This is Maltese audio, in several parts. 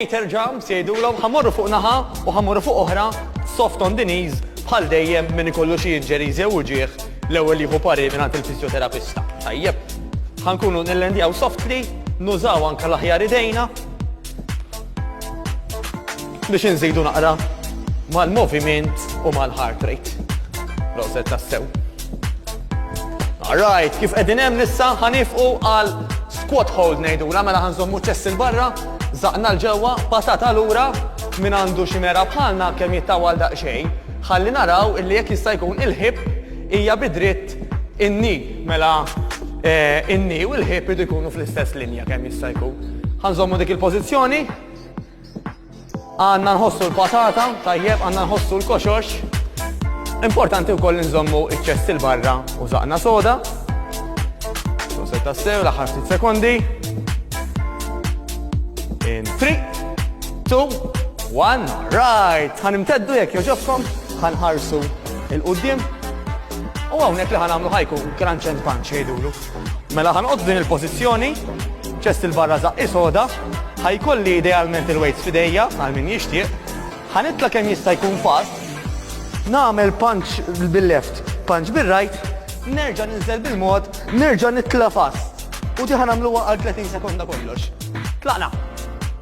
Peter Jumps jgħidulhom ħa morru fuq naħa u ħa morru fuq oħra soft on the knees bħal dejjem min ikollu xi injuries jew uġieħ l-ewwel jieħu pari mingħand il-fiżjoterapista. Tajjeb, ħankunu nillendjaw softly, nużaw anke l-aħjar idejna biex inżidu naqra mal-moviment u mal-heart rate. Roset tassew. Alright, kif qegħdin hemm nissa ħanifqu għal squat hold ngħidu, mela ħanżommu ċess il-barra Żaqna 'l ġewwa, patata lura, min għandu xi mergħa bħalna kemm jittawwal daqsxejn, ħalli naraw illi jekk jista' jkun il-ħieb hija bi dritt in-ni, mela in-ni u l-ħieb iridu jkunu fl-istess linja kemm jista' jkun. Ħa nżommu dik il-pożizzjoni. Għandna nħossu l-patata, tajjeb, għandna nħossu l-koxox. Importanti wkoll li nżommu iċ-ċess il-barra u zaqna soda. Soset tassew, l-aħħar ftit sekondi. In 3, 2, 1, right. Ħan imteddu jekk joġobkom, ħan ħarsu il-qudiem. U hawnhekk li ħan għamlu ħajku crunch and punch jgħidulu. Mela ħanqod f'din il-pożizzjoni, ċest il-barra zaqqi soda, ħajkolli idealment il-weights f'idejja għal min jixtieq, ħanitla kemm jista' jkun fast, nagħmel punch bil-left, punch bil-right, nerġa' ninżel bil-mod, nerġa' nitla fast. U diħan għamluwa għal 30 sekonda kollox. Tlaqna!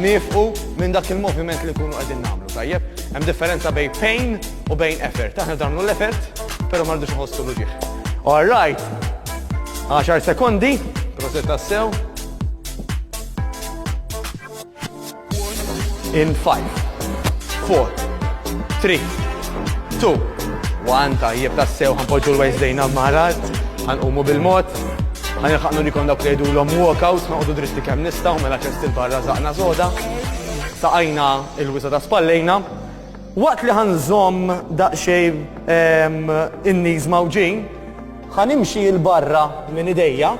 Nifqu minn dak il-moviment li kunu qegħdin nagħmlu, tajjeb? Hemm differenza bejn pain u bejn effort. Aħna damlu l-effort, però ma rridux nħossu l All right. 10 sekondi, proset tassew. In 5, 4, 3, 2, 1, tajjeb tassew, ħanpoġu l-wejs dejna marar, ħanqumu bil-mod, Ħa nilħaq nurikom dawk li jgħidulhom walkout, noqogħdu dritti kemm nistgħu mela ċest il-barra żaqna soda. Taqajna il-wisa ta' spallejna. Waqt li ħanżomm daqsxejn ehm, in-niż mawġin, ħanimxi il-barra minn idejja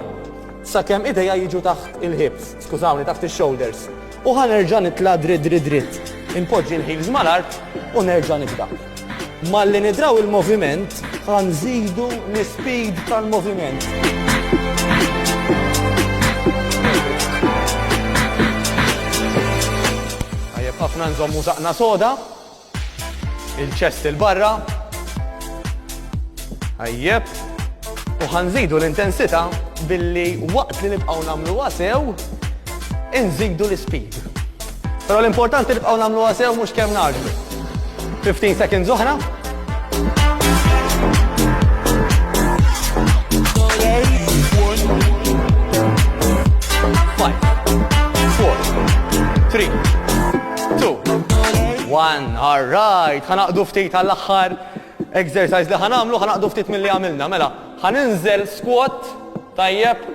sakemm idejja jiġu taħt il-hips, skużawni, taħt ix-shoulders. U ħa nerġa' nitla' dritt dritt dritt, inpoġġi l-heels mal-art u nerġa' nibda. Malli nidraw il-moviment, ħa nżidu l-ispeed tal-moviment. Tajjeb ħafna nżommu saqna soda. Il-ċest il-barra. Ajjeb. U ħanżidu l-intensità billi waqt li nibqgħu nagħmlu sew, inżidu l-speed. Però l-importanti nibqgħu nagħmlu sew mhux kemm naġlu. 15 seconds oħra. two, one, all right, ħanaqdu ftit għall-axħar exercise li ħanamlu, ħanaqdu ftit mill-li għamilna, mela, ħaninżel squat, tajjeb,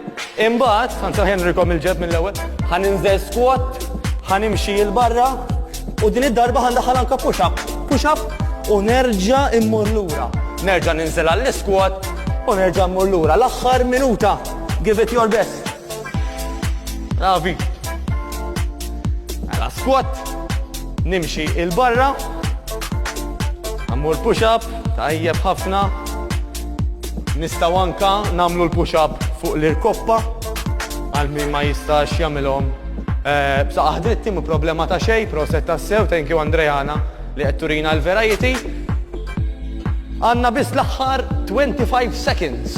imbat, ħansa ħenrikom il-ġeb mill-ewel, ħaninżel squat, ħanimxi il-barra, u din id-darba ħandaħal anka push up, push up, u nerġa immur lura. Nerġa ninżel għall-squat, u nerġa immur lura. L-axħar minuta, give it your best. Ravi. Għala squat. Nimxi il-barra. Għammur push-up. Tajjeb ħafna. Nistaw anka namlu l-push-up fuq l-irkoppa. Għal min ma jistax jamilom. Eh, bsa aħdritti mu problema ta' xej, proset ta' sew, thank you Andrejana li qed turina l-verajiti. Għanna bis l-aħħar 25 seconds.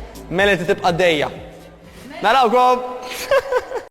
Mela inti tibqa' dejja. Narawkom!